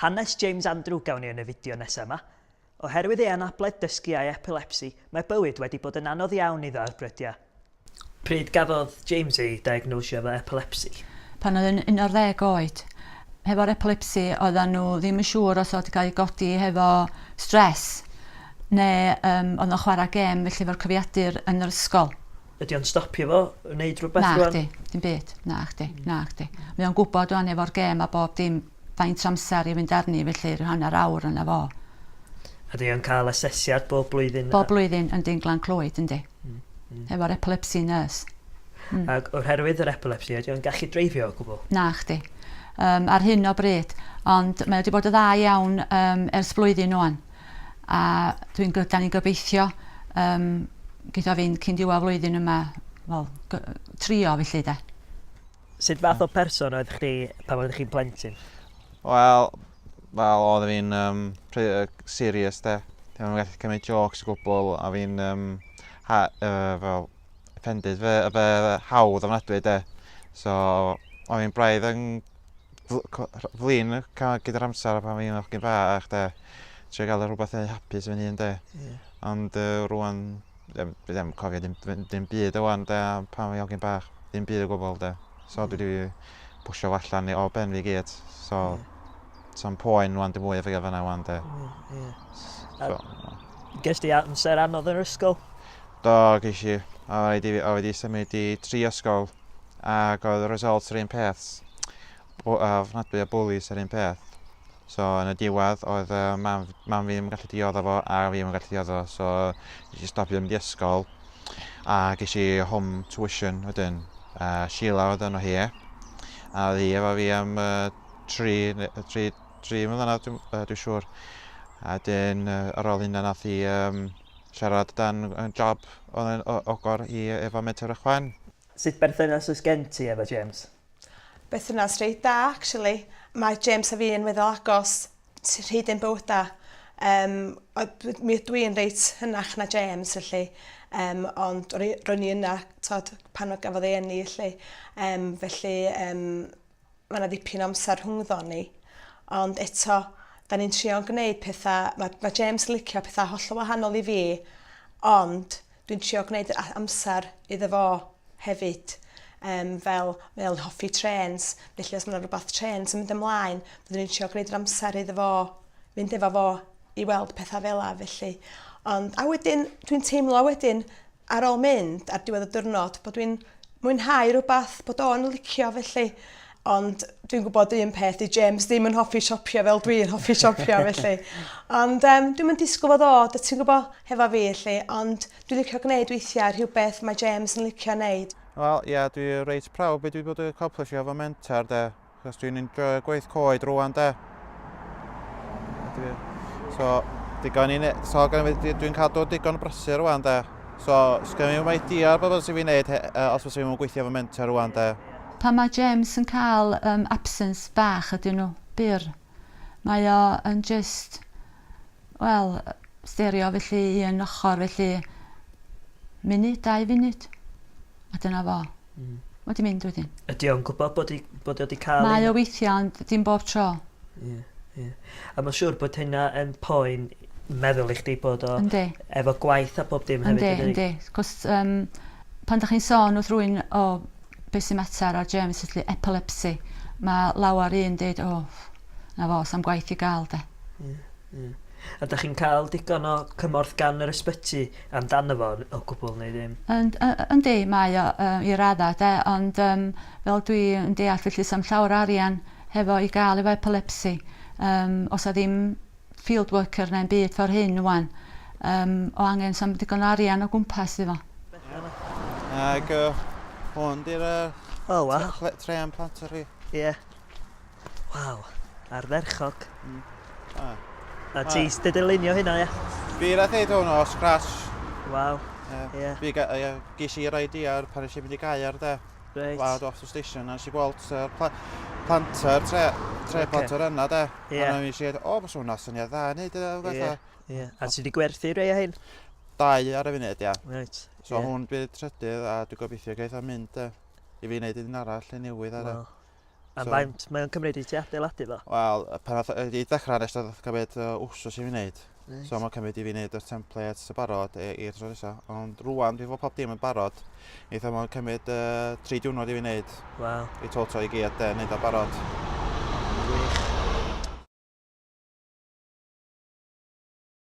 Hanes James Andrew gawn ni yn y fideo nesa 'ma. Oherwydd ei anabledd dysgu a'i epilepsi, mae bywyd wedi bod yn anodd iawn iddo ar brydia. Pryd gafodd James ei diagnosio efo epilepsi? Pan oedd yn 11 oed. Hefo'r epilepsi oeddan nhw ddim yn siŵr os oedd 'di cael ei godi hefo stress neu yym oedd o'n chwarae gêm felly efo'r cyfiadur yn yr ysgol. Ydy o'n stopio fo wneud rhywbeth rwan? Nacdi, dim byd. Nacdi, nacdi. Mae o'n gwybod rwan efo'r gêm a bob dim faint o amser i fynd arni felly rhyw hanner awr a 'na fo. Ydy o'n cael asesiad bob blwyddyn? Bob blwyddyn yndi yn Glan Clwyd yndi. Efo'r epilepsy nurse. Ac oherwydd yr epilepsy ydy o'n gallu dreifio o gwbl? Nacdi. Yym ar hyn o bryd. Ond mae o 'di bod y' dda iawn yym ers blwyddyn ŵan. A dwi'n go- dan ni'n gobeithio yym geith o fynd cyn diwedd flwyddyn yma, wel go- trio felly de. Sut fath o person oedd chdi pan oeddech chi'n plentyn? Wel, wel oedd fi'n um, serious de. Dwi'n yn gallu cymryd jokes o gwbl a fi'n um, ha, uh, fel offended fe, fe hawdd ofnadwy de. So oedd fi'n braidd yn flin gyda'r amser a pan fi'n ochgyn fach, de, trio gael rhywbeth ei hapus fy hun, de. Yeah. Ond uh, rwan, ddim, ddim cofio dim, dim byd o wan, de, pan fi'n ochgyn bach, ddim byd o gwbl, de. So mm. dwi wedi pwysio allan ni o ben fi gyd, so... Yeah. So'n poen rwan, dim mwy o fi o fyna wan, de. Yeah, yeah. So, no. Ges di amser anodd yr ysgol? Do, ges i. A wedi, a wedi symud i tri ysgol ac oedd y results yr un peth, ofnadwy o bwlis yr un peth. So yn y diwedd oedd uh, mam, mam fi ddim yn gallu dioddo fo a fi ddim yn gallu dioddo so nes i stopio mynd i ysgol a ges i home tuition wedyn. Uh, Sheila oedd yno hi e a oedd hi efo fi am uh, tri, tri, tri mlynedd dwi'n dwi siŵr. A dyn uh, ar ôl hynna nath i um, Siarad dan job oedd yn ogor i efo Menter y Chwen. Sut berthynas oes gen ti efo James? Berthynas reit da actually. Mae James a fi yn weddol agos t- hyd ein bywyda. Yym o- dw- mi ydw i'n reit hynach na James felly yym ond ro- ro'n i yna t'od pan o- gafodd ei eni 'lly. Yym felly yym Mae yna ddipyn o amser rhwngddon ni. Ond eto, da ni'n trio'n gwneud pethau... Mae, mae James yn licio pethau hollol wahanol i fi, ond dwi'n trio gwneud amser iddo fo hefyd. Um, fel, mae o'n hoffi trens, felly os mae yna rhywbeth trens yn mynd ymlaen, byddwn ni'n trio gwneud yr amser iddo fo, fynd efo fo i weld pethau fel la, felly. Ond, a wedyn, dwi'n teimlo wedyn, ar ôl mynd, ar diwedd y diwrnod, bod dwi'n mwynhau rhywbeth bod o'n licio felly. Ond dwi'n gwybod un peth, di James ddim yn hoffi siopio fel dwi'n hoffi siopio felly. Ond um, dwi'n mynd disgwyl fod o, dy ti'n gwybod, hefo fi felly. Ond dwi'n licio gwneud weithiau rhywbeth mae James yn licio wneud. Wel, ia, dwi reit prawf beth dwi wedi bod yn accomplisho efo mentor, de. Achos dwi'n enjoy gweith coed rwan de. So, digon i'n... So, dwi'n cadw digon o brysur rwan de. So, sgynnu yma i di ar bobl sy'n fi'n neud os fes i'n gweithio fy mentor rwan de. Pan mae James yn cael um, absence bach ydyn nhw, byr. Mae o yn just, wel, sterio felly i un ochr felly munud, dau funud. A dyna fo. Hmm. Ma' 'di mynd wedyn. Ydi o'n gwbod bod 'i bod o 'di ca'l un? Mae o weithia ond dim bob tro. Ie ie. A ma' siŵr bod hynna yn poen meddwl i chdi bod o... Yndi. ...efo gwaith a pob dim hefyd yndydi? Yndi yndi. 'C'os yym pan 'dach chi'n sôn wrth rywun o be' sy mater ar James felly epilepsi ma' lawar un deud o 'na fo sa'm gwaith i ga'l 'de. Ie ie. Ydach chi'n cael digon o cymorth gan yr ysbyty amdano fo o gwbl neu ddim? Yndi, mae o i raddau 'de, ond yym fel dwi yn deall felly 'sa'm llawer o arian hefo i ga'l efo epilepsi, yym o's 'a ddim field worker neu'm byd ffor hyn ŵan, yym o angen 'sa'm digon o arian o gwmpas i fo. Ag yy hwn 'di'r yy... O waw. ...tr- tr- tray am plant a chi. Ie. Waw, ardderchog. Mm. Ah. A ti ah. dy dylunio hynna, ie? Fi na ddeud hwn o scratch. Waw. Yeah. yeah. Fi ga, yeah, ges i'r idea ar pan eisiau mynd i gair, de. Reit. Waw, dos y station, a nes i gweld uh, pla planter, tre, tre okay. planter yna, de. Yeah. A na mi eisiau, o, bys hwnna syniad dda, neu dyn nhw'n beth. Yeah. Yeah. A ti wedi gwerthu rei o hyn? Dau ar y funud, ia. Right. So yeah. hwn bydd trydydd a dwi'n gobeithio gaeth o'n mynd uh, i fi wneud un arall yn newydd ar wow. Am so, faint mae o'n cymryd i ti adeiladu fo? Wel, pan oedd wedi dechrau nes oedd cymryd uh, wsos i fi wneud. Right. So mae'n cymryd i fi wneud y templates sy'n barod e, i'r tro nesaf. Ond rwan, dwi fod pob dim yn barod. Eitha mae'n cymryd uh, tri diwrnod i fi wneud. Wow. I toto i gyd, uh, wneud o barod. Wych.